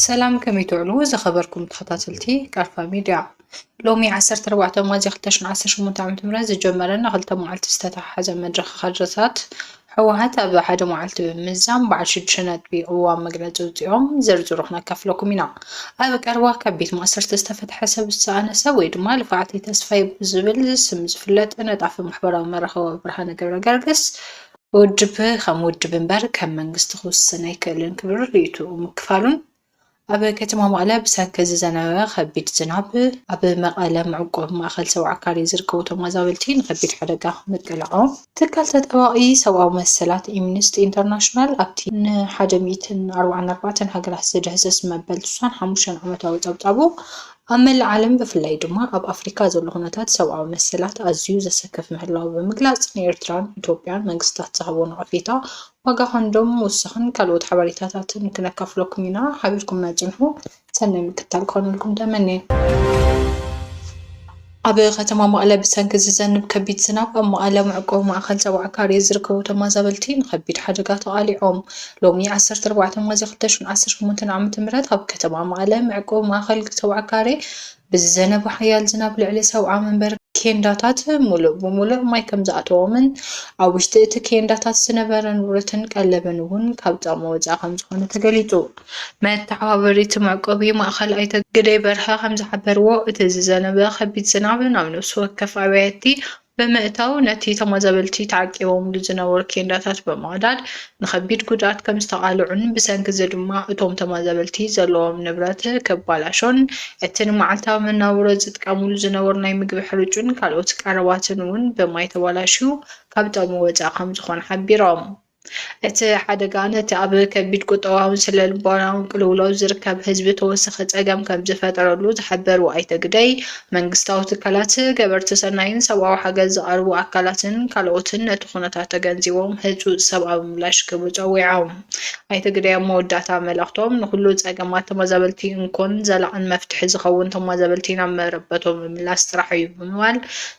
ሰላም ከመይ ትውዕሉ ዝኸበርኩም ተኸታተልቲ ቃልፋ ሚድያ ሎሚ 14 ሚያዝያ 2018 ዓ.ም ዝጀመረ ንክልተ መዓልቲ ዝተተሓሓዘ መድረኽ ካድረታት ህወሓት ኣብ ሓደ መዓልቲ ብምምዛን በዓል ሽዱሽተ ነጥቢ ቅዋም መግለፂ ኣውፂኦም ዝርዝሩ ክነካፍለኩም ኢና። ኣብ ቀረባ ካብ ቤት ማእሰርቲ ዝተፈትሐ ሰብ ዝተኣነሰ ወይ ድማ ልፍዓተይ ተስፋይ ብዝብል ስም ዝፍለጥ ነጣፊ ማሕበራዊ መራኸቢ ብርሃነ ገብረገርግስ ውድብ ከም ውድብ እምበር ከም መንግስቲ ክውስን ኣይክእልን ክብል ርእይትኡ ምክፋሉን ኣብ ከተማ መቐለ ብሰንኪ ዝዘነበ ከቢድ ዝናብ ኣብ መቐለ መዕቆቢ ማእኸል ሰውዓ ካሬ ዝርከቡ ተመዛበልቲ ንከቢድ ሓደጋ ምቅላዖም ትካል ተጣባቒ ሰብኣዊ መሰላት ኢምንስቲ ኢንተርናሽናል ኣብቲ ን ሓደ ሚእትን ኣርባዓን ኣርባዕተን ሃገራት ዝድህስስ መበል ትስዓን ሓሙሽተን ዓመታዊ ፀብፃቡ ኣብ መላእ ዓለም ብፍላይ ድማ ኣብ ኣፍሪካ ዘሎ ኩነታት ሰብኣዊ መሰላት ኣዝዩ ዘሰክፍ ምህላዉ ብምግላፅ ንኤርትራን ኢትዮጵያን መንግስታት ዝሃቦ ነቐፌታ ዋጋ ኮንዶም ምውሳኽን ካልኦት ሓበሬታታትን ክነካፍለኩም ኢና፣ ሓቢርኩምና ጽንሑ። ሰናይ ምክትታል ክኾነልኩም ተመንየ። ኣብ ከተማ መቐለ ብሰንኪ ዝዘንብ ከቢድ ዝናብ ኣብ መቐለ መዕቆቢ ማእኸል ሰባ ዓካርየ ዝርከቡ ተመዛበልቲ ንከቢድ ሓደጋ ተቓሊዖም። ሎሚ ዓሰርተ ኣርባዕተ ሚያዝያ ክልተ ሽሕን ዓሰርተ ሸሞንተን ዓመተ ምህረት ኣብ ከተማ መቐለ መዕቆቢ ማእኸል ሰባ ዓካርየ ብዝዘነበ ሓያል ዝናብ ልዕሊ ሰብዓ መንበር ኬንዳታት ምሉእ ብምሉእ ማይ ከምዝኣተዎምን ኣብ ውሽጢ እቲ ኬንዳታት ዝነበረ ንብረትን ቀለብን እውን ካብ ጥቕሚ ወፃኢ ከምዝኾነ ተገሊፁ። መተሓባበሪ እቲ መዕቆቢ ማእኸል ኣይተ ግደይ በርሀ ከምዝሓበርዎ፣ እቲ ዝዘነበ ከቢድ ዝናብ ናብ ነፍሲ ወከፍ ኣብያቲ ብምእታው ነቲ ተመዛበልቲ ተዓቂቦምሉ ዝነበሩ ኬንዳታት ብምቕዳድ ንኸቢድ ጉድኣት ከም ዝተቓልዑን ብሰንኪ'ዚ ድማ እቶም ተመዛበልቲ ዘለዎም ንብረት ክበላሾን እቲ ንመዓልታዊ መነባብሮ ዝጥቀምሉ ዝነበሩ ናይ ምግቢ ሕርጩን ካልኦት ቀረባትን'ውን ብማይ ተበላሽዩ ካብ ጥቕሚ ወጻኢ ከም ዝኾነ ሓቢሮም። እቲ ሓደጋ ነቲ ኣብ ከቢድ ቁጠባውን ስነልቦናውን ቅልውላው ዝርከብ ህዝቢ ተወሳኺ ጸገም ከምዝፈጠረሉ ዝሓበሩ ኣይተ ግደይ፣ መንግስታዊ ትካላት፣ ገበርቲ ሰናይን ሰብኣዊ ሓገዝ ዘቐርቡ ኣካላትን ካልኦትን ነቲ ኩነታት ተገንዚቦም ህጹጽ ሰብኣዊ ምላሽ ክህቡ ጸዊዖም። ኣይተ ግደይ ኣብ መወዳእታ መልእኽቶም፣ ንኹሉ ጸገማት ተመዛበልቲ እንኮን ዘላቕን መፍትሒ ዝኸውን ተመዛበልቲ ናብ መረበቶም ምምላስ ጥራሕ'ዩ ብምባል፣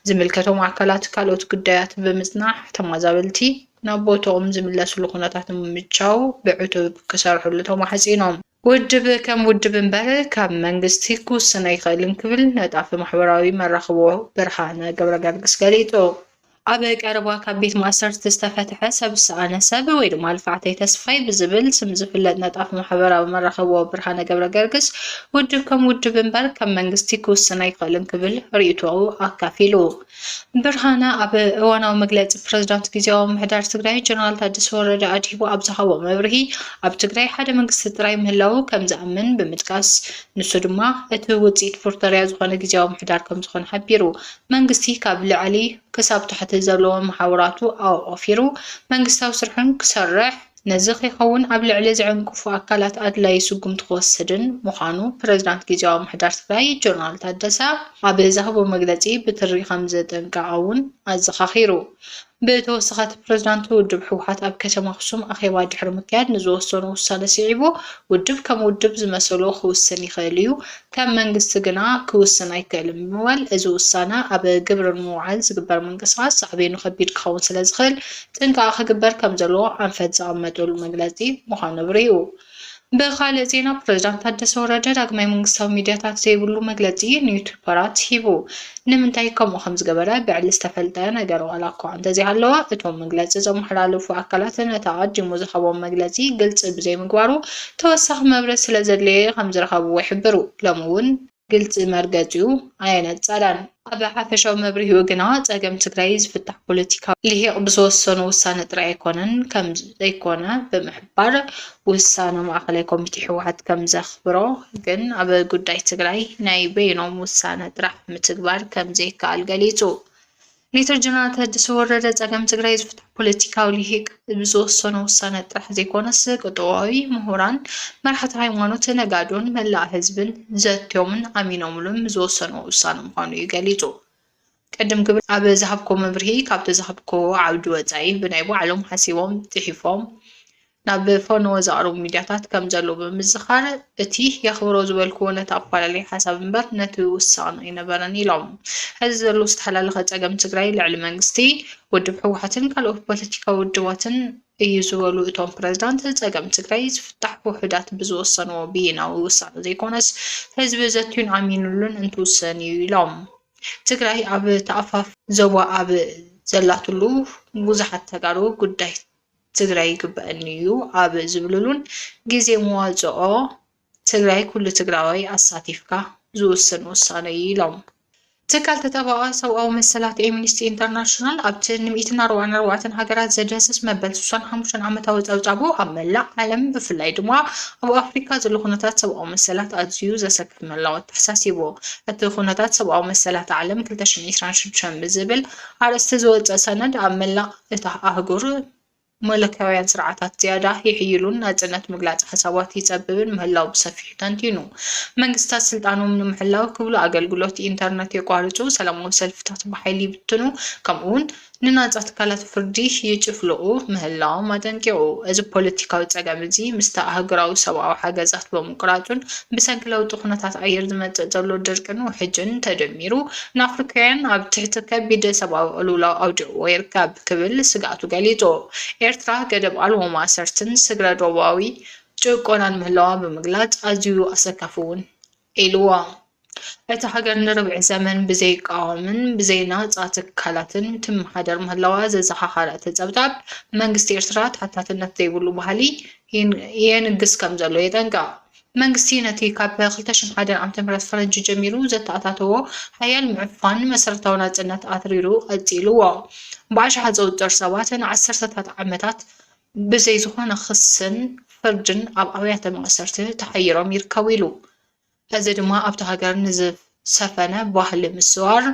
ዝምልከቶም ኣካላት ካልኦት ጉዳያት ብምጽናሕ ተመዛበልቲ ናብ ቦትኦም ዝምለስሉ ኩነታት ንምምቻው ብዕቱብ ክሰርሕሉ ተማሕጺኖም። ውድብ ከም ውድብ እምበር ካብ መንግስቲ ክውስን ኣይኽእልን ክብል ነጣፊ ማሕበራዊ መራኽቦ ብርሃነ ገብረገርግስ ገሊጹ። ኣብ ቀረባ ካብ ቤት ማእሰርቲ ዝተፈትሐ ሰብ ዝሰኣነ ሰብ ወይ ድማ ልፍዓተይ ተስፋይ ብዝብል ስም ዝፍለጥ ነጣፊ ማሕበራዊ መራኽቦ ብርሃነ ገብረገርግስ ውድብ ከም ውድብ እምበር ከም መንግስቲ ክውስን ኣይኽእልን ክብል ርእይቶኡ ኣካፊሉ። ብርሃነ ኣብ እዋናዊ መግለፂ ፕረዚዳንት ግዝያዊ ምምሕዳር ትግራይ ጀነራል ታደሰ ወረደ ኣድሂቡ ኣብ ዝሃቦ መብርሂ ኣብ ትግራይ ሓደ መንግስቲ ጥራይ ምህላዉ ከምዝኣምን ብምጥቃስ ንሱ ድማ እቲ ውፅኢት ፕሪቶርያ ዝኾነ ግዝያዊ ምምሕዳር ከምዝኾነ ሓቢሩ። መንግስቲ ካብ ልዕሊ ክሳብ ታሕቲ ዘለዎ መሓውራቱ ኣዋፊሩ መንግስታዊ ስርሑ ክሰርሕ ነዚ ከይኸውን ኣብ ልዕሊ ዝዕንቅፉ ኣካላት ኣድላዪ ስጉምቲ ክወስድን ምዃኑ ፕሬዝዳንት ጊዚያዊ ምምሕዳር ትግራይ ጀነራል ታደሰ ኣብ ዝሃቦ መግለጺ ብትሪ ከምዘጠንቀቐ'ውን ኣዘኻኺሩ። ብተወሳኺ እቲ ፕሬዝዳንት ውድብ ህወሓት ኣብ ከተማ ኣኽሱም ኣኼባ ድሕሪ ምክያድ ንዝወሰኖ ውሳነ ስዒቡ ውድብ ከም ውድብ ዝመሰሎ ክውስን ይኽእል እዩ ከም መንግስቲ ግና ክውስን ኣይክእልን ብምባል፣ እዚ ውሳነ ኣብ ግብሪ ንምውዓል ዝግበር ምንቅስቓስ ሳዕቤኑ ከቢድ ክኸውን ስለዝኽእል ጥንቃቐ ክግበር ከምዘለዎ ኣንፈት ዘቐመጠሉ መግለጺ ምዃኑ ኣብሪሁ። ብኻልእ ዜና ፕሬዝዳንት ታደሰ ወረደ ዳግማይ መንግስታዊ ሚድያታት ዘይብሉ መግለጺ ንዩቱፐራት ሂቡ። ንምንታይ ከምኡ ከም ዝገበረ ብዕሊ ዝተፈልጠ ነገር ዋላኳ እንተዘይሃለወ፣ እቶም መግለጺ ዘመሓላለፉ ኣካላት ነቲ ኣቐዲሙ ዝሃቦም መግለጺ ግልጺ ብዘይምግባሩ ተወሳኺ መብርሂ ስለዘድለየ ከም ዝረኸብዎ ይሕብሩ። ሎሚ እውን። ግልጺ መርገጺኡ ኣየነጸረን። ኣብ ሓፈሻዊ መብርሂኡ ግና ጸገም ትግራይ ዝፍታሕ ፖለቲካዊ ሊሂቕ ብዝወሰኖ ውሳነ ጥራይ ኣይኮነን ከም ዘይኮነ ብምሕባር፣ ምንባር ውሳነ ማእኸላይ ኮሚቴ ህወሓት ከምዘኽብሮ ግን ኣብ ጉዳይ ትግራይ ናይ በይኖም ውሳነ ጥራሕ ምትግባር ከምዘይከኣል ገሊፁ። ሌተር ጀነራል ታደሰ ወረደ ፀገም ትግራይ ዝፍትሑ ፖለቲካዊ ልሂቅ ብዝወሰኖ ውሳነ ጥራሕ ዘይኮነስ ቅጥዋዊ ምሁራን፣ መራሕቲ ሃይማኖት፣ ነጋዶን መላእ ህዝብን ዘትዮምን ኣሚኖምሉን ዝወሰንዎ ውሳነ ምዃኑ እዩ ገሊፁ። ቅድም ክብል ኣብ ዝሃብኩዎ መብርሂ ካብቲ ዝሃብኩዎ ዓውዲ ወጻኢ ብናይ ባዕሎም ሓሲቦም ጽሒፎም ናብ ፈነወ ዘቕርቡ ሚድያታት ከም ዘለዉ ብምዝኻር እቲ የኽብሮ ዝበልኩዎ ነቲ ኣፈላላይ ሓሳብ እምበር ነቲ ውሳቕን ኣይነበረን ኢሎም። ሕዚ ዘሎ ዝተሓላለኸ ጸገም ትግራይ ልዕሊ መንግስቲ፣ ውድብ ህወሓትን ካልኦት ፖለቲካዊ ውድባትን እዩ ዝበሉ እቶም ፕረዚዳንት፣ ጸገም ትግራይ ዝፍታሕ ውሑዳት ብዝወሰንዎ ብይናዊ ውሳነ ዘይኮነስ ህዝቢ ዘትዩን ኣሚንሉን እንትውስን እዩ ኢሎም። ትግራይ ኣብ ተኣፋፍ ዞባ ኣብ ዘላትሉ ብዙሓት ተጋሩ ጉዳይ ትግራይ ይግበኣኒ ዩ ኣብ ዝብልሉን ግዜ መዋፅኦ ትግራይ ኩሉ ትግራዋይ ኣሳቲፍካ ዝውሰን ውሳነ ዩ ኢሎም። ትካል ተጣባቒ ሰብኣዊ መሰላት ኤምኒስቲ ኢንተርናሽናል ኣብቲ ንምኢትን ኣርባዕን ኣርባዕተን ሃገራት ዘድህስስ መበል ስሳን ሓሙሽተን ዓመታዊ ጸብጻቡ ኣብ መላእ ዓለም ብፍላይ ድማ ኣብ ኣፍሪካ ዘሎ ኩነታት ሰብኣዊ መሰላት ኣዝዩ ዘሰካ ምህላዉ ኣተሓሳሲቡ። እቲ ኩነታት ሰብኣዊ መሰላት ዓለም ክልተ ሽሕን ዒስራን ሽዱሽተን ብዝብል ኣርእስቲ ዝወጸ ሰነድ፣ ኣብ መላእ እታ ኣህጉር መለክያውያን ስርዓታት ዝያዳ ይሕይሉን ናጽነት ምግላጽ ሓሳባት ይጸብብን ምህላዉ ብሰፊሑ ተንቲኑ። መንግስታት ስልጣኖም ንምሕላው ክብሉ ኣገልግሎት ኢንተርነት የቋርጹ፣ ሰላማዊ ሰልፍታት ብሓይሊ ይብትኑ፣ ከምኡ'ውን ንናጻ ትካላት ፍርዲ ይጭፍልቑ ምህላዎም ኣጠንቂቑ። እዚ ፖለቲካዊ ጸገም እዚ ምስቲ ኣህጉራዊ ሰብኣዊ ሓገዛት ብምቁራጹን ብሰንኪ ለውጢ ኩነታት ኣየር ዝመጽእ ዘሎ ድርቅን ውሕጅን ተደሚሩ ንኣፍሪካውያን ኣብ ትሕቲ ከቢድ ሰብኣዊ ቅልውላው ኣውዲቕዎ ይርከብ ክብል ስግኣቱ ገሊጹ። ኤርትራ ገደብ ኣልቦ ማእሰርትን ስግረ-ዶባዊ ጭቆናን ምህላዋ ብምግላጽ ኣዝዩ ኣሰካፊ'ውን ኢልዎ። እታ ሃገር ንርብዒ ዘመን ብዘይቃዋምን ብዘይናጻ ትካላትን ትመሓደር ምህላዋ ዘዘኻኸረ እቲ ጸብጻብ፣ መንግስቲ ኤርትራ ተሓታትነት ዘይብሉ ባህሊ የንግስ ከምዘሎ የጠንቅቕ። መንግስቲ ነቲ ካብ ክልተ ሽሕን ሓደን ዓመተ ምህረት ፈረንጂ ጀሚሩ ዘተኣታተዎ ሓያል ምዕፋን መሰረታዊ ናጽነት ኣትሪሩ ቀጺልዎ። ብኣሽሓት ዝቑጸሩ ሰባት ንዓሰርተታት ዓመታት ብዘይ ዝኾነ ክስን ፍርድን ኣብ ኣብያተ ማእሰርቲ ተሓይሮም ይርከቡ ኢሉ። እዚ ድማ ኣብታ ሃገር ንዝሰፈነ ባህሊ ምስዋር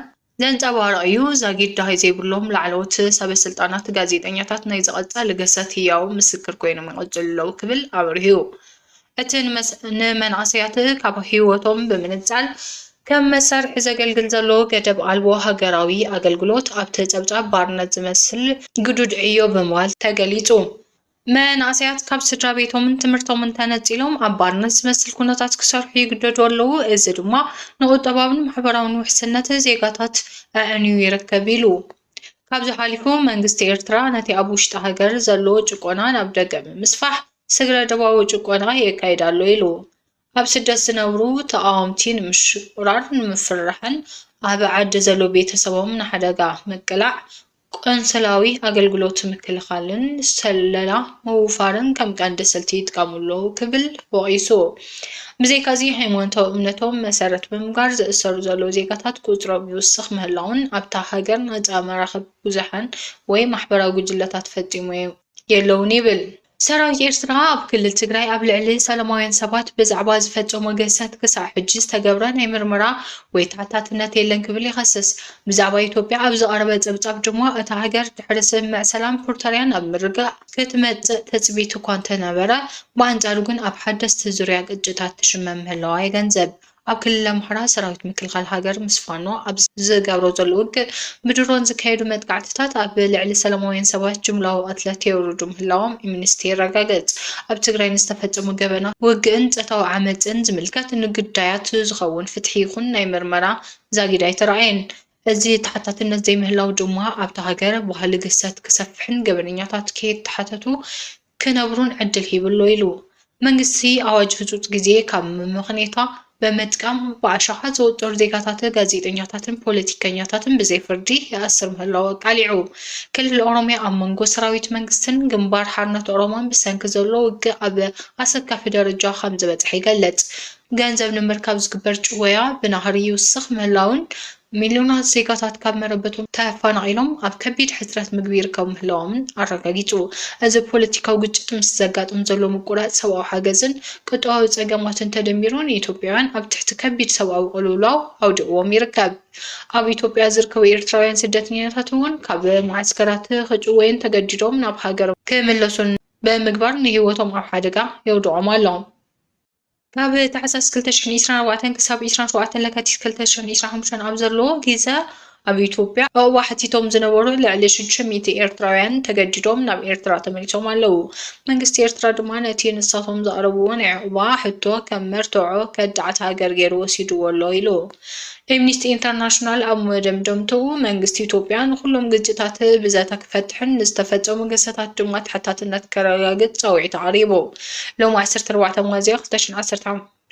ዘንጸባርቕ'ዩ፣ ዛጊድ ደሃይ ዘይብሎም ላዕለዎት ሰበስልጣናት ጋዜጠኛታት ናይ ዝቐጻሊ ገሰት ህያው ምስክር ኮይኖም ይቕጽሉ ኣለዉ ክብል ኣብሪሁ። እቲ ንመንእሰያት ካብ ህይወቶም ብምንጻል ከም መሳርሒ ዘገልግል ዘሎ ገደብ ኣልቦ ሃገራዊ ኣገልግሎት ኣብቲ ጸብጻብ ባርነት ዝመስል ግዱድ ዕዮ ብምባል ተገሊጹ። መንእሰያት ካብ ስድራቤቶምን ትምህርቶምን ተነጺሎም ኣብ ባርነት ዝመስል ኩነታት ክሰርሑ ይግደዱ ኣለዉ፣ እዚ ድማ ንቁጠባውን ማሕበራውን ውሕስነት ዜጋታት ኣዕንዩ ይርከብ ኢሉ። ካብዚ ሓሊፉ መንግስቲ ኤርትራ ነቲ ኣብ ውሽጢ ሃገር ዘሎ ጭቆና ናብ ደገ ብምስፋሕ ስግረ ዶባዊ ጭቆና የካይድ ኣሎ ኢሉ። ኣብ ስደት ዝነብሩ ተቓወምቲ ንምሽቑራር፣ ንምፍርራሕን ኣብ ዓዲ ዘሎ ቤተሰቦም ንሓደጋ ምቅላዕ ቆንስላዊ ኣገልግሎት ምክልኻልን ስለላ ምውፋርን ከም ቀንዲ ስልቲ ይጥቀሙ ኣለዉ ክብል ወቒሱ። ብዘይካዚ ሃይማኖታዊ እምነቶም መሰረት ብምግባር ዝእሰሩ ዘለዉ ዜጋታት ቁፅሮም ይውስኽ ምህላዉን ኣብታ ሃገር ናፃ መራኸቢ ብዙሓን ወይ ማሕበራዊ ጉጅለታት ፈፂሙ የለዉን ይብል። ሰራዊት ኤርትራ ኣብ ክልል ትግራይ ኣብ ልዕሊ ሰላማውያን ሰባት ብዛዕባ ዝፈጸሞ ግህሰት ክሳዕ ሕጂ ዝተገብረ ናይ ምርመራ ወይ ተሓታትነት የለን ክብል ይኸስስ። ብዛዕባ ኢትዮጵያ ኣብ ዝቐረበ ጸብጻብ ድማ እታ ሃገር ድሕሪ ስምምዕ ሰላም ፕሪቶርያ ናብ ምርግጋእ ክትመጽእ ትጽቢት'ኳ እንተነበረ፣ ብኣንጻሩ ግን ኣብ ሓደስቲ ዙርያ ግጭታት ትሽመም ምህላዋ የገንዘብ። ኣብ ክልል ኣምሓራ ሰራዊት ምክልኻል ሃገር ምስ ፋኖ ኣብ ዝገብሮ ዘሎ ውግእ፣ ብድሮን ዝካየዱ መጥቃዕትታት ኣብ ልዕሊ ሰላማውያን ሰባት ጅምላዊ ቅትለት የውርዱ ምህላዎም ኤምኒስቲ የረጋግጽ። ኣብ ትግራይ ንዝተፈጸሙ ገበናት ውግእን ጸታዊ ዓመጽን ዝምልከት ንግዳያት ዝኸውን ፍትሒ ይኹን ናይ ምርመራ ዛጊድ ኣይተራእየን። እዚ ተሓታትነት ዘይምህላው ድማ ኣብታ ሃገር ባህሊ ግህሰት ክሰፍሕን ገበነኛታት ከይተሓተቱ ክነብሩን ዕድል ሂቡ'ሎ ኢሉ። መንግስቲ ኣዋጅ ህጹጽ ግዜ ካብ መመኽነይታ ብምጥቃም ብኣሸሓት ዝቑጸሩ ዜጋታትን ጋዜጠኛታትን ፖለቲከኛታትን ብዘይፍርዲ ይኣስር ምህላዉ ኣቃሊዑ። ክልል ኦሮምያ ኣብ መንጎ ሰራዊት መንግስትን ግንባር ሓርነት ኦሮሞን ብሰንኪ ዘሎ ውግእ ኣብ ኣሰካፊ ደረጃ ከምዝበጽሐ ይገልጽ። ገንዘብ ንምርካብ ዝግበር ጭወያ ብናህሪ ይውስኽ ምህላዉን ሚልዮናት ዜጋታት ካብ መረበቶም ተፋናቒሎም ኣብ ከቢድ ሕጽረት ምግቢ ይርከቡ ምህላዎምን ኣረጋጊጹ። እዚ ፖለቲካዊ ግጭት ምስ ዘጋጥም ዘሎ ምቁራጽ ሰብኣዊ ሓገዝን ቁጠባዊ ጸገማትን ተደሚሩ ንኢትዮጵያውያን ኣብ ትሕቲ ከቢድ ሰብኣዊ ቅልውላው ኣውዲቕዎም ይርከብ። ኣብ ኢትዮጵያ ዝርከቡ ኤርትራውያን ስደተኛታት እውን ካብ መዓስከራት ክጭወዩን ተገዲዶም ናብ ሃገሮም ክምለሱን ብምግባር ንህይወቶም ኣብ ሓደጋ የውድቖም ኣሎ። ካብ ታሕሳስ ክልተ ሽሕን ዒስራን ኣርባዕተን ክሳብ ዒስራን ሸውዓተን ለካቲት ክልተ ሽሕን ዒስራን ሓሙሽተን ኣብ ዘሎ ግዘ ኣብ ኢትዮጵያ ዑቕባ ሓቲቶም ዝነበሩ ልዕሊ ሽዱሽተ ሚእቲ ኤርትራውያን ተገዲዶም ናብ ኤርትራ ተመሊሶም ኣለዉ። መንግስቲ ኤርትራ ድማ ነቲ ንሳቶም ዘቕረብዎ ናይ ዑቕባ ሕቶ ከም መርትዖ ከዳዓት ሃገር ገይሩ ወሲድዎ ኣሎ ኢሉ። ኤምኒስቲ ኢንተርናሽናል ኣብ መደምደምትኡ፣ መንግስቲ ኢትዮጵያ ንኹሎም ግጭታት ብዘተ ክፈትሕን ንዝተፈጸሙ ግህሰታት ድማ ተሓታትነት ከረጋግጽ ጻውዒት ኣቕሪቡ። ሎሚ ዓሰርተ ኣርባዕተ ሚያዝያ ክልተ ሽሕን ዓሰርተ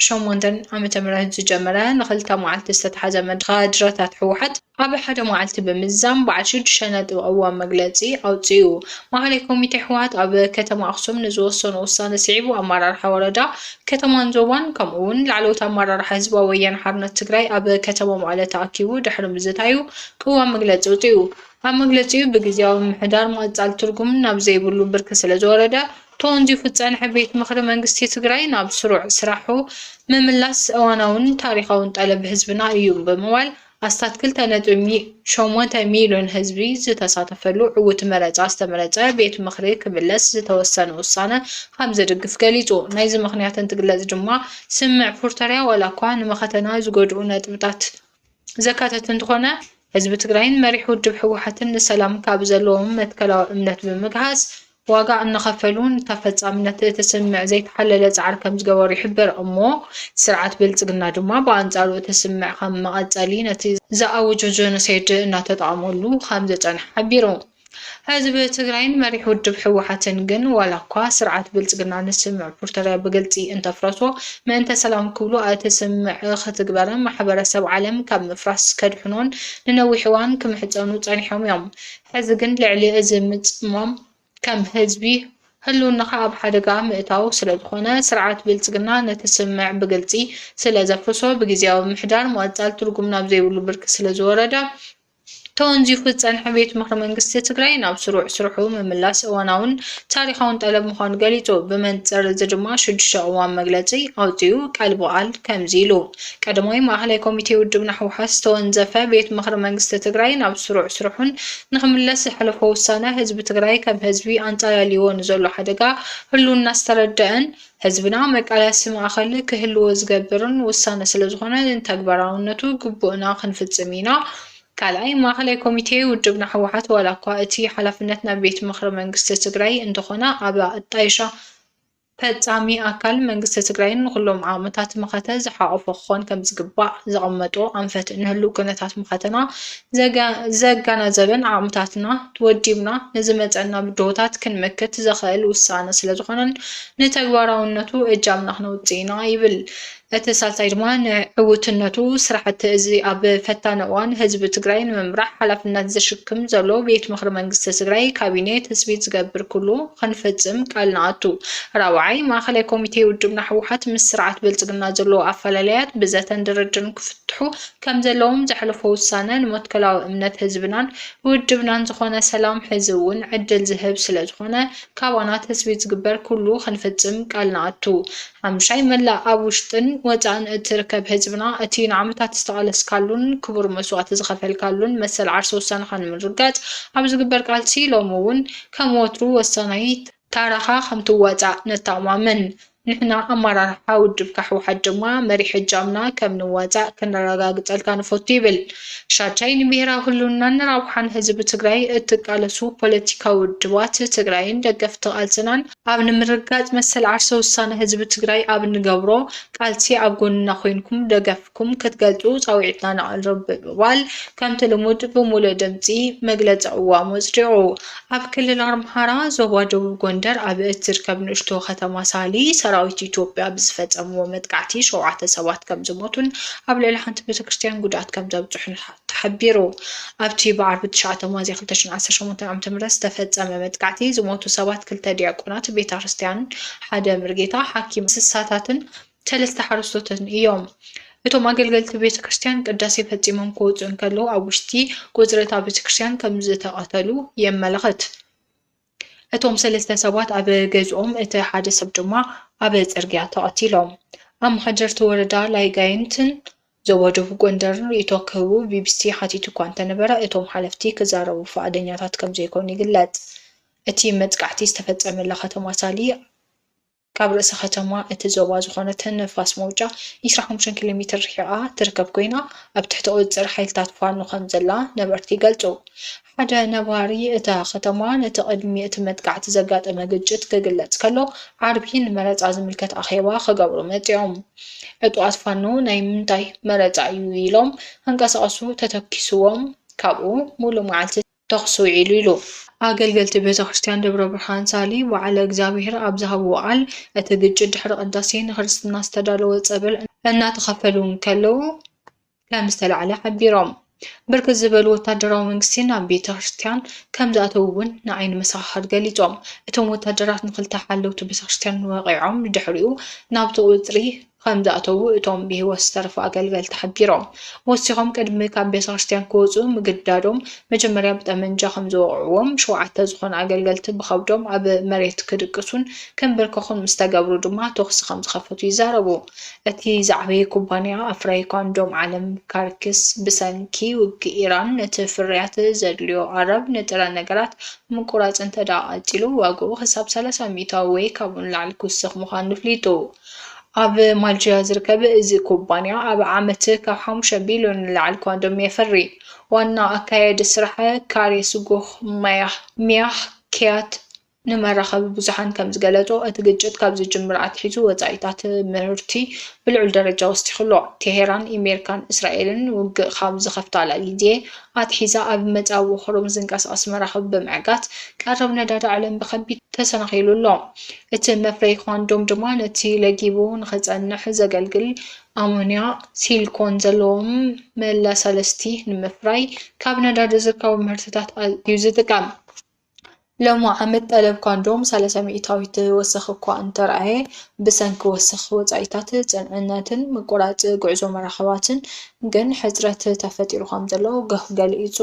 ሸሞንተን ዓመተ ምህረት ዝጀመረ ንኽልተ መዓልቲ ዝተትሓዘ መድረኽ ካድረታት ህወሓት፣ ኣብ ሓደ መዓልቲ ብምዝዛም በዓል ሽዱሽተ ነጥቢ ቅዋም መግለጺ ኣውጺኡ። ማእከላይ ኮሚቴ ህወሓት ኣብ ከተማ ኣኽሱም ንዝወሰኖ ውሳነ ስዒቡ ኣመራርሓ ወረዳ፣ ከተማን ዞባን ከምኡ እውን ላዕለዎት ኣመራርሓ ህዝባዊ ወያነ ሓርነት ትግራይ ኣብ ከተማ መቐለ ተኣኪቡ ድሕሪ ምዝታዩ ቅዋም መግለፂ ኣውፂኡ። ኣብ መግለፂኡ ብግዝያዊ ምምሕዳር ምቕፃል ትርጉም ናብ ዘይብሉ ብርኪ ስለዝወረደ ተወንዚፉ ዝፀንሐ ቤት ምኽሪ መንግስቲ ትግራይ ናብ ስሩዕ ስራሑ ምምላስ እዋናውን ታሪኻውን ጠለብ ህዝብና እዩ ብምባል ኣስታት ክልተ ነጥቢ ሸሞንተ ሚልዮን ህዝቢ ዝተሳተፈሉ ዕዉት መረፃ ዝተመረፀ ቤት ምኽሪ ክምለስ ዝተወሰነ ውሳነ ከምዘድግፍ ገሊፁ። ናይዚ ምኽንያት እንትግለፅ ድማ ስምምዕ ፕሪቶርያ ዋላ እኳ ንመኸተና ዝጎድኡ ነጥብታት ዘካተተ እንተኾነ ህዝቢ ትግራይን መሪሕ ውድብ ህወሓትን ንሰላም ካብ ዘለዎም መትከላዊ እምነት ብምግሃስ ዋጋ እናኸፈሉ ንተፈፃምነት እቲ ስምምዕ ዘይተሓለለ ፃዕሪ ከምዝገበሩ ይሕበር እሞ ስርዓት ብልፅግና ድማ ብኣንፃሩ እቲ ስምምዕ ከም መቐፀሊ ነቲ ዝኣወጆ ጀኖሳይድ እናተጠቐመሉ ከምዝፀንሐ ሓቢሩ። ህዝቢ ትግራይን መሪሕ ውድብ ህወሓትን ግን ዋላ እኳ ስርዓት ብልፅግና ንስምምዕ ፕርቶርያ ብግልፂ እንተፍረሶ ምእንተ ሰላም ክብሉ እቲ ስምምዕ ክትግበርን ማሕበረሰብ ዓለም ካብ ምፍራስ ከድሕኖን ንነዊሕ እዋን ክምሕፀኑ ፀኒሖም እዮም። ሕዚ ግን ልዕሊ እዚ ምጽማም ከም ህዝቢ ህልውናኻ ኣብ ሓደጋ ምእታው ስለዝኾነ ስርዓት ብልጽግና ነቲ ስምምዕ ብግልጺ ስለዘፍርሶ ብግዜያዊ ምሕዳር ምቕጻል ትርጉም ናብ ዘይብሉ ብርኪ ስለዝወረደ ተወንዚፉ ዝጸንሐ ቤት ምኽሪ መንግስቲ ትግራይ ናብ ስሩዕ ስርሑ ምምላስ እዋናውን ታሪኻውን ጠለብ ምዃኑ ገሊጹ። ብመንጽር እዚ ድማ ሽዱሽተ ቅዋም መግለጺ ኣውጺኡ ቃል ብቓል ከምዚ ኢሉ። ቀዳማይ ማእኸላይ ኮሚቴ ውድብና ህወሓት ዝተወንዘፈ ቤት ምኽሪ መንግስቲ ትግራይ ናብ ስሩዕ ስርሑን ንኽምለስ ዘሕለፎ ውሳነ ህዝቢ ትግራይ ከም ህዝቢ ኣንፃላልይዎ ንዘሎ ሓደጋ ህልውና ዝተረደኣን ህዝብና መቃለሲ ማእኸል ክህልዎ ዝገብርን ውሳነ ስለዝኾነ ንተግባራውነቱ ግቡእና ክንፍፅም ኢና። ካልኣይ ማእኸላይ ኮሚቴ ውድብና ህወሓት ዋላ እኳ እቲ ሓላፍነት ናብ ቤት ምኽሪ መንግስቲ ትግራይ እንተኾነ ኣብ ኣጣይሻ ፈፃሚ ኣካል መንግስቲ ትግራይ ንኹሎም ዓቕምታት መኸተ ዝሓቖፈ ክኾን ከምዝግባእ ዘቐመጦ ኣንፈት ንህልው ኩነታት መኸተና ዘገናዘበን ዓቕምታትና ወዲብና ንዝመፀና ብድሆታት ክንመክት ዘኽእል ውሳነ ስለዝኾነን ንተግባራውነቱ እጃምና ክነውፅእ ኢና ይብል እቲ ሳልሳይ ድማ ንዕውትነቱ ስራሕቲ እዚ ኣብ ፈታኒ እዋን ህዝቢ ትግራይ ንምምራሕ ሓላፍነት ዝሽክም ዘሎ ቤት ምኽሪ መንግስቲ ትግራይ፣ ካቢኔ፣ ትፅቢት ዝገብር ኩሉ ኽንፍፅም ቃል ንኣቱ። ራብዓይ፣ ማእኸላይ ኮሚቴ ውድብና ህወሓት ምስ ስርዓት ብልፅግና ዘለዎ ኣፈላላያት ብዘተን ድርድርን ክፍትሑ ከምዘለዎም ዘሕለፎ ውሳነ ንመትከላዊ እምነት ህዝብናን ውድብናን ዝኾነ ሰላም ሕዚ እውን ዕድል ዝህብ ስለዝኾነ ካባና ትፅቢት ዝግበር ኩሉ ኽንፍፅም ቃል ንኣቱ። ሓሙሻይ፣ መላእ ኣብ ውሽጥን ወጻእን እትርከብ ህዝብና፣ እቲ ንዓመታት ዝተቓለስካሉን ክቡር መስዋእቲ ዝኸፈልካሉን መሰል ዓርሰ ውሳነኻ ንምርግጋጽ ኣብ ዝግበር ቃልሲ፣ ሎሚ እውን ከም ወትሩ ወሳናይ ታራኻ ከምትዋጻእ ነተኣማምን። ንሕና ኣመራርሓ ውድብካ ህወሓት ድማ መሪሕ እጃምና ከም ንዋጻእ ከነረጋግጸልካ ንፈቱ ይብል ሻድሻይ፣ ንብሄራዊ ህልውናን ንራብሓን ህዝቢ ትግራይ እትቃለሱ ፖለቲካዊ ውድባት ትግራይን ደገፍቲ ቃልስናን፣ ኣብ ንምርግጋፅ መሰል ዓርሰ ውሳነ ህዝቢ ትግራይ ኣብ እንገብሮ ቃልሲ ኣብ ጎንና ኮይንኩም ደገፍኩም ክትገልፁ ፃውዒትና ነቕርብ ብምባል ከምቲ ልሙድ ብሙሉእ ድምፂ መግለፂ ቅዋሙ ኣፅዲቑ። ኣብ ክልል ኣምሓራ ዞባ ደቡብ ጎንደር ኣብ እትርከብ ንእሽቶ ከተማ ሳሊ ሰራዊት ኢትዮጵያ ብዝፈፀምዎ መጥቃዕቲ ሸውዓተ ሰባት ከምዝሞቱን ኣብ ልዕሊ ሓንቲ ቤተክርስትያን ጉድኣት ከምዘብፅሑን ተሓቢሩ። ኣብቲ ብዓርቢ ትሽዓተ ሚያዝያ ክልተ ሽሕን ዓሰርተ ሸሞንተን ዓመተ ምህረት ዝተፈጸመ መጥቃዕቲ ዝሞቱ ሰባት ክልተ ዲያቆናት ቤታክርስትያን፣ ሓደ ምርጌታ፣ ሓኪም እንስሳታትን ሰለስተ ሓረስቶትን እዮም። እቶም ኣገልገልቲ ቤተክርስትያን ቅዳሴ ፈጺሞም ክወጹ እንከለዉ ኣብ ውሽጢ ቁጽሪ እታ ቤተክርስትያን ከምዝተቐተሉ የመልኽት። እቶም ሰለስተ ሰባት ኣብ ገዝኦም እቲ ሓደ ሰብ ድማ ኣብ ጽርግያ ተቐቲሎም። ኣመሓደርቲ ወረዳ ላይጋይንትን ዞባ ደቡብ ጎንደርን ርእይቶ ክህቡ ቢቢሲ ሓቲቱ እኳ እንተነበረ እቶም ሓለፍቲ ክዛረቡ ፍቓደኛታት ከምዘይኮኑ ይግለጽ። እቲ መጥቃዕቲ ዝተፈጸመላ ከተማ ሳሊ፣ ካብ ርእሰ ከተማ እቲ ዞባ ዝኾነት ንፋስ መውጫ ዕስራን ሓሙሽተን ኪሎ ሜትር ርሒቓ ትርከብ ኮይና፣ ኣብ ትሕቲ ቁጽጽር ሓይልታት ፋኖ ከምዘላ ነበርቲ ይገልጹ። ሓደ ነባሪ እታ ከተማ ነቲ ቅድሚ እቲ መጥቃዕቲ ዘጋጠመ ግጭት ክግለጽ ከሎ፣ ዓርቢ ንመረጻ ዝምልከት ኣኼባ ክገብሩ መጺኦም። ዕጡቓት ፋኖ ናይ ምንታይ መረጻ እዩ ኢሎም ከንቀሳቕሱ ተተኪስዎም ካብኡ ምሉእ መዓልቲ ተኹሲ ውዒሉ ኢሉ። ኣገልገልቲ ቤተክርስትያን ደብረ ብርሃን ሳሊ ወዓለ እግዚኣብሔር ኣብ ዝሃብዎ ቃል እቲ ግጭት ድሕሪ ቅዳሴ ንክርስትና ዝተዳለወ ፀበል እናተኸፈሉ እንከለዉ ከምዝተላዕለ ሓቢሮም። ብርክት ዝበሉ ወታደራዊ መንግስቲ ናብ ቤተክርስትያን ከምዝኣተዉ እውን ንዓይኒ መሰኻኽር ገሊፆም። እቶም ወታደራት ንክልተ ሓለውቲ ቤተክርስትያን ወቒዖም ንድሕሪኡ ናብቲ ቁፅሪ ከምዝኣተዉ እቶም ብህይወት ዝተረፉ ኣገልገልቲ ሓቢሮም። ወሲኾም ቅድሚ ካብ ቤተክርስትያን ክወጹ ምግዳዶም መጀመርያ ብጠመንጃ ከምዝወቕዕዎም፣ ሸውዓተ ዝኾኑ ኣገልገልቲ ብኸብዶም ኣብ መሬት ክድቅሱን ክንብርከኹን ምስ ተገብሩ ድማ ተኹሲ ከምዝኸፈቱ ይዛረቡ። እቲ ዝዓበየ ኩባንያ ኣፍራዪ ኳንዶም ዓለም ካርክስ ብሰንኪ ውግእ ኢራን ነቲ ፍርያት ዘድልዮ ኣረብ ንጥረ ነገራት ምቁራጽ እንተድኣ ቀጺሉ ዋግኡ ክሳብ ሰላሳ ሚእታዊ ወይ ካብኡ ንላዕሊ ክውስኽ ምዃኑ ኣፍሊጡ። ኣብ ማልጅያ ዝርከብ እዚ ኩባንያ ኣብ ዓመት ካብ ሓሙሽተ ቢልዮን ንላዕሊ ኮንዶም የፍሪ። ዋና ኣካያዲ ስራሕ ካሬ ስጉኽ ማያህ ሚያህ ኪያት ንመራኸቢ ብዙሓን ከምዝገለጾ፣ እቲ ግጭት ካብ ዝጅምር ኣትሒዙ ወጻኢታት ምህርቲ ብልዑል ደረጃ ወሲኹ ኣሎ። ቴሄራን ኢሜሪካን እስራኤልን ውግእ ካብ ዝኸፍታላ ግዜ ኣትሒዛ ኣብ መጻብቦ ኮርሙዝ ዝንቀሳቐስ መራኽብ ብምዕጋት ቀረብ ነዳዲ ዓለም ብከቢድ ተሰናኺሉ ኣሎ። እቲ መፍረዪ ኳንዶም ድማ ነቲ ለጊቡ ንኽጸንሕ ዘገልግል ኣሞንያ ሲልኮን ዘለዎም መለሳለስቲ ንምፍራይ ካብ ነዳዲ ዝርከቡ ምህርትታት እዩ ዝጥቀም። ሎሚ ዓመት ጠለብ ኳንዶም ሰላሳ ሚእታዊት ወሰኽ እኳ እንተርኣየ፣ ብሰንኪ ወሰኽ ወጻኢታት ጽንዕነትን ምቁራጽ ጉዕዞ መራኽባትን ግን ሕጽረት ተፈጢሩ ከምዘሎ ገሁ ገሊጹ።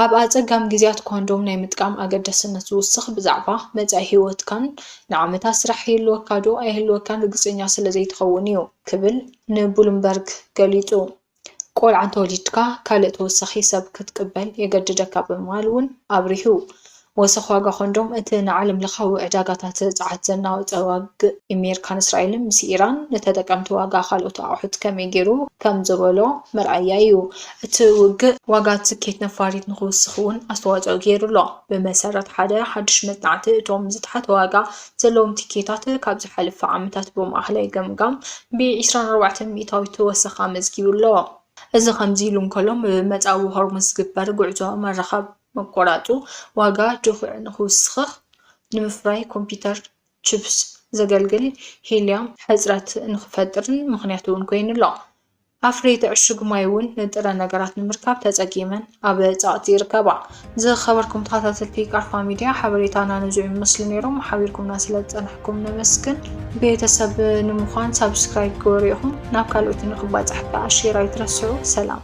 ኣብ ኣጸጋሚ ግዜያት ኮንዶም ናይ ምጥቃም ኣገዳስነት ዝውስኽ ብዛዕባ መጻኢ ህይወትካን ንዓመታት ስራሕ ይህልወካዶ ኣይህልወካን ርግጸኛ ስለ ዘይትኸውን እዩ ክብል ንብሉምበርግ ገሊጹ። ቆልዓ እንተወሊድካ ካልእ ተወሳኺ ሰብ ክትቅበል የገድደካ ብምባል እውን ኣብሪሁ። ወሰኽ ዋጋ ኮንዶም እቲ ንዓለምለኻዊ ዕዳጋታት ጸዓት ዘናወጸ ዋግእ ኢሜርካን እስራኤልን ምስ ኢራን ንተጠቀምቲ ዋጋ ካልኦት ኣቑሑት ከመይ ጌሩ ከም ዘበሎ መርኣያ ኢዩ። እቲ ውግእ ዋጋ ትኬት ነፋሪት ንኽውስኽ እውን ኣስተዋጽኦ ጌሩ ኣሎ። ብመሰረት ሓደ ሓድሽ መጽናዕቲ እቶም ዝተሓተ ዋጋ ዘለዎም ትኬታት ካብ ዝሓለፈ ዓመታት ብማእኸላይ ገምጋም ብ ዕስራን ኣርባዕተን ሚእታዊት ወሰኽ ኣመዝጊቡ ኣሎ። እዚ ከምዚ ኢሉ እንከሎ ብ መጻብቦ ሆርሙዝ ዝግበር ጉዕዞ መራኸብ፣ መቆራጹ ዋጋ ድኹዒ ንክውስኽኽ ንምፍራይ ኮምፒተር ችፕስ ዘገልግል ሂልዮም ሕጽረት ንክፈጥርን ምኽንያት እውን ኮይኑ ኣሎ። ኣፍረይቲ ዕሹግ ማይ እውን ንጥረ ነገራት ንምርካብ ተጸጊመን ኣብ ጸቕጢ ይርከባ። ዝኸበርኩም ተኸታተልቲ ቃርፋ ሚድያ ሓበሬታና ንዙ ይመስሉ ነይሮም። ሓቢርኩምና ስለ ዝጸናሕኩም ነመስግን። ቤተሰብ ንምዃን ሳብስክራይብ ግበሩ ኢኹም። ናብ ካልኦት ንክባጻሕ ከዓ ሼር ኣይትረስዑ። ሰላም።